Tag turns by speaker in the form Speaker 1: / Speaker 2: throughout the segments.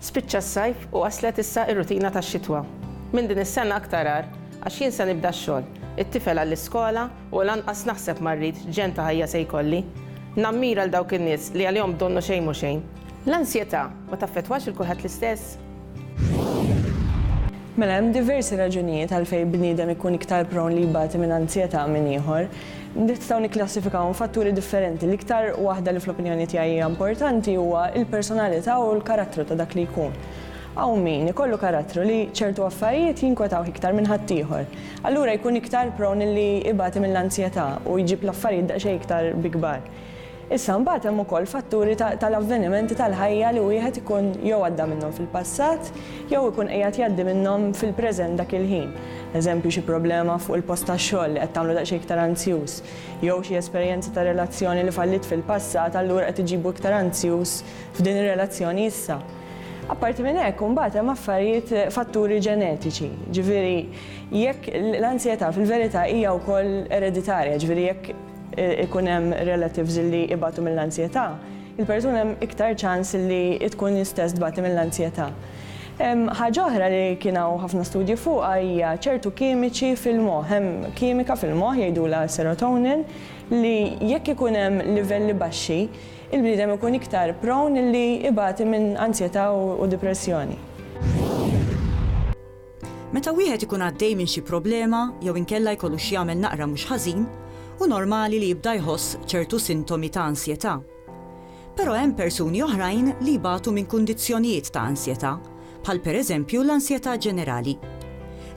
Speaker 1: Spiċċa s-sajf u waslet issa r-rutina tax-xitwa. Minn din is-sena aktar agħar, għax jien se nibda x-xogħol, it-tifel għall-iskola u lanqas naħseb ma rrid x'ġenn ta' ħajja se jkolli. Nammira 'l dawk in-nies li għalihom b'donnu xejn mhu xejn. L-ansjetà ma taffettwax 'il kulħadd l-istess? Mela hemm diversi raġunijiet għalfejn bniedem ikun iktar prone li jbati minn ansjetà minn ieħor. Nistgħu nikklassifikawhom f'fatturi differenti. L-iktar waħda li fl-opinjoni tiegħi hija importanti huwa l-personalità u l-karattru ta' dak li jkun. Hawn min ikollu karattru li ċertu affarijiet jinkwetawh iktar minn ħaddieħor. Allura jkun iktar prone li jbati mill-anzjetà u jġib l-affarijiet daqsxejn iktar bi kbar. Issa mbagħad hemm ukoll fatturi tal-avvenimenti tal-ħajja li wieħed ikun jew għadda minnhom fil-passat jew ikun qiegħed jgħaddi minnhom fil-preżent dak il-ħin. Eżempju, xi problema fuq il-post tax-xogħol li qed tagħmlu daqsxejn iktar anzjuż, jew xi esperjenza ta' relazzjoni li falliet fil-passat allura qed iġibu iktar anzjuż f'din ir-relazzjoni issa. Apparti minn hekk, imbagħad hemm affarijiet fatturi ġenetiċi, ġifieri jekk l-anzjetà fil-verità hija wkoll ereditarja, ġifieri jekk ikun hemm relatives li ibatu mill-anzjetà, il-persuna hemm iktar ċans li tkun hi stess tbati mill-anzjetà. Ħaġa oħra li kien hawn ħafna studji fuqha hija ċertu kimiċi fil-moħħ. Hemm kimika fil-moħħ jgħidulha serotonin li jekk ikun hemm livelli baxxi, il-bniedem ikun iktar prone li ibati minn anzjetà u dipressjoni. Meta wieħed ikun għaddej minn xi problema jew inkella jkollu x'jagħmel naqra mhux ħażin, hu normali li jibda jħoss ċertu sintomi ta' ansjetà. Però hemm persuni oħrajn li jbatu minn kundizzjonijiet ta' ansjetà, bħal pereżempju l-ansjetà ġenerali.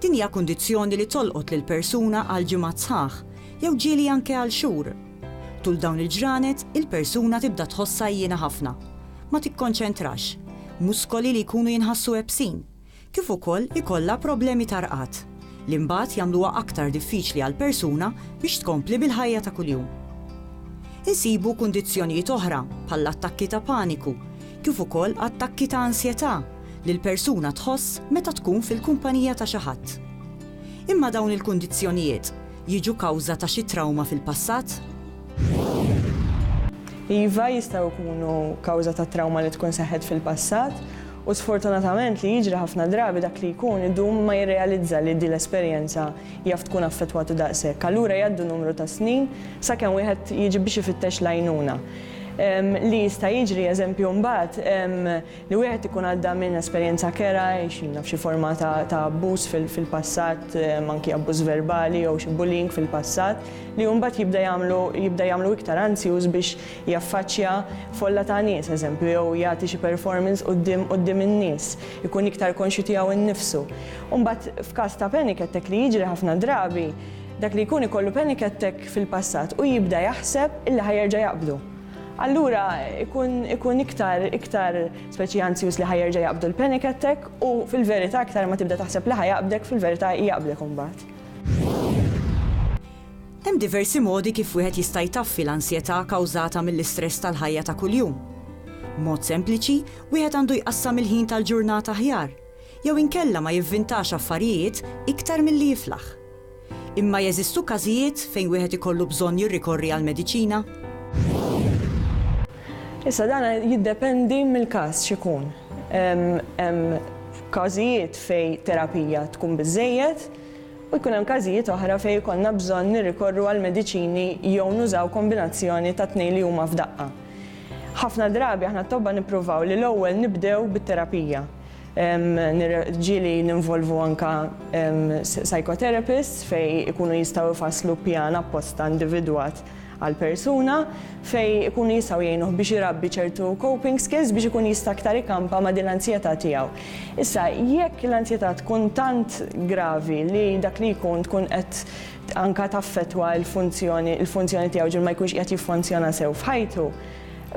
Speaker 1: Din hija kundizzjoni li tolqot lill-persuna għal ġimgħat sħaħ, jew ġieli anke għal xhur. Tul dawn il-ġranet, il-persuna tibda tħossha għijjiena ħafna, ma tikkonċentrax, muskoli li jkunu jinħassu ebsin, kif ukoll ikollha problemi ta' rqad, li mbagħad jagħmluha aktar diffiċli għall-persuna biex tkompli bil-ħajja ta' kuljum. Insibu kundizzjonijiet oħra, bħall-attakki ta' paniku, kif ukoll attakki ta' ansjetà li l-persuna tħoss meta tkun fil-kumpanija ta' xi ħadd. Imma dawn il-kundizzjonijiet jiġu kawża ta' xi trawma fil-passat? Iva, jistgħu jkunu kawża ta' trawma li tkun seħħet fil-passat, U sfortunatament li jiġri ħafna drabi dak li jkun idum ma jirrealizza li din l-esperjenza jaf tkun affettwatu daqshekk. Allura jgħaddu numru ta' snin sakemm wieħed jiġi biex ifittex l-għajnuna. Li jista' jiġri, eżempju, mbagħad li wieħed ikun għadda minn esperjenza kerha, x'inaf, xi forma ta' abbuż fil-passat, anki abbuż verbali jew xi bullying fil-passat, li hu mbagħad jibda jagħmlu jibda jagħmlu iktar anzjuż biex jaffaċċja folla ta' nies, eżempju, jew jagħti xi performance quddiem quddiem in-nies, ikun iktar konxju tiegħu nnifsu. U mbagħad f'każ ta' panic attack li jiġri ħafna drabi, dak li jkun ikollu panic attack fil-passat u jibda jaħseb illi ħa jerġa' jaqbdu. Allura ikun ikun iktar iktar speċi anzjuż li ħa jerġa' jaqbdu l-panic attack u fil-verità iktar ma tibda taħseb li ħa jaqbdek fil-verità jaqbdek imbagħad. Hemm diversi modi kif wieħed jista' jtaffi l-ansjetà kawżata mill-istress tal-ħajja ta' kuljum. B'mod sempliċi, wieħed għandu jqassam il-ħin tal-ġurnata aħjar, jew inkella ma jivvintax affarijiet iktar milli jiflaħ. Imma jeżistu każijiet fejn wieħed ikollu bżonn jirrikorri għall-mediċina? Issa dan jiddependi mill-każ x'ikun. Hemm każijiet fejn terapija tkun biżżejjed, u jkun hemm każijiet oħra fejn ikollna bżonn nirrikorru għal mediċini jew nużaw kombinazzjoni tat-tnejn li huma f'daqqa. Ħafna drabi aħna t-tobba nippruvaw li l-ewwel nibdew bit-terapija, ġieli ninvolvu anke psychotherapists fejn ikunu jistgħu jfasslu pjan apposta individwat għall-persuna fejn ikunu jistgħu jgħinuh biex irabbi ċertu coping skills biex ikun jista' aktar ikampa ma' din l-anzjetà tiegħu. Issa, jekk l-anzjetà tkun tant gravi li dak li jkun tkun qed anke taffettwa l-funzjoni l-funzjoni tiegħu ġieli ma jkunx qiegħed jiffunzjona sew f'ħajtu,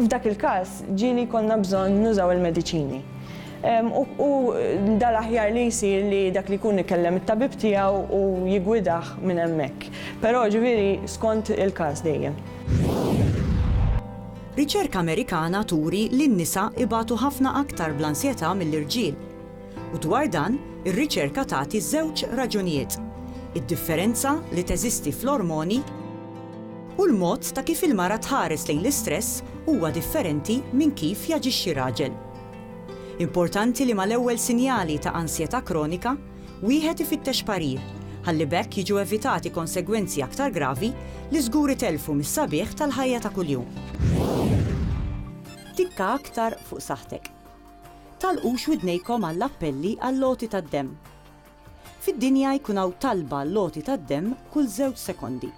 Speaker 1: f'dak il-każ ġieli jkollna bżonn nużaw il-mediċini. U da l-aħjar li jsir li dak li jkun ikellem it-tabib tiegħu u jiggwidah minn hemmhekk. Però ġifieri skont il-każ dejjem. Riċerka Amerikana turi li n-nisa ibatu ħafna aktar bl-ansjetà mill-irġiel. U dwar dan, ir-riċerka tagħti żewġ raġunijiet, id-differenza li teżisti fl-ormoni u l-mod ta' kif il-mara tħares lejn l-istress huwa differenti minn kif jaġixxi raġel. Importanti li mal-ewwel sinjali ta' ansjetà kronika, wieħed ifittex parir, ħalli b'hekk jiġu evitati konsegwenzi aktar gravi li żgur itellfu mis-sabiħ tal-ħajja ta' kuljum. Tikka aktar fuq saħħtek. Tagħlqux widnejkom għall-appelli għall-għoti tad-demm. Fid-dinja jkun hawn talba għall-għoti tad-demm kull żewġ sekondi.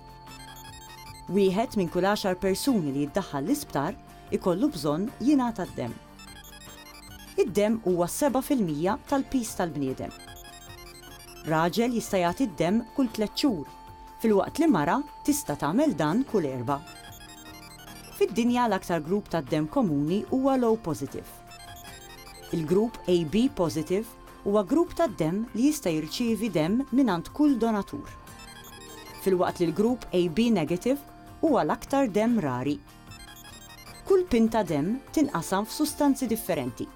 Speaker 1: Wieħed minn kull għaxar persuni li jiddaħħal l-isptar ikollu bżonn jingħata d-demm. Id-demm huwa s-seba' fil-mija tal-piż tal-bniedem. Raġel jista' jagħti d-demm kull tliet xhur, filwaqt li mara tista' tagħmel dan kull erbgħa. Fid-dinja l-aktar grupp tad-demm komuni huwa l-O positive. Il-grupp AB positive huwa grupp tad-demm li jista' jirċievi demm mingħand kull donatur. Filwaqt li l-grupp AB negative huwa l-aktar demm rari. Kull pint ta' demm tinqasam f'sustanzi differenti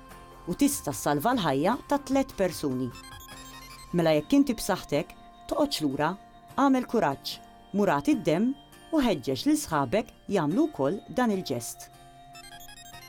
Speaker 1: u tista' ssalva l-ħajja ta' tliet persuni. Mela jekk inti b'saħħtek, toqgħodx lura, agħmel kuraġġ, mur agħti d-demm u ħeġġeġ lil sħabek jagħmlu wkoll dan il-ġest.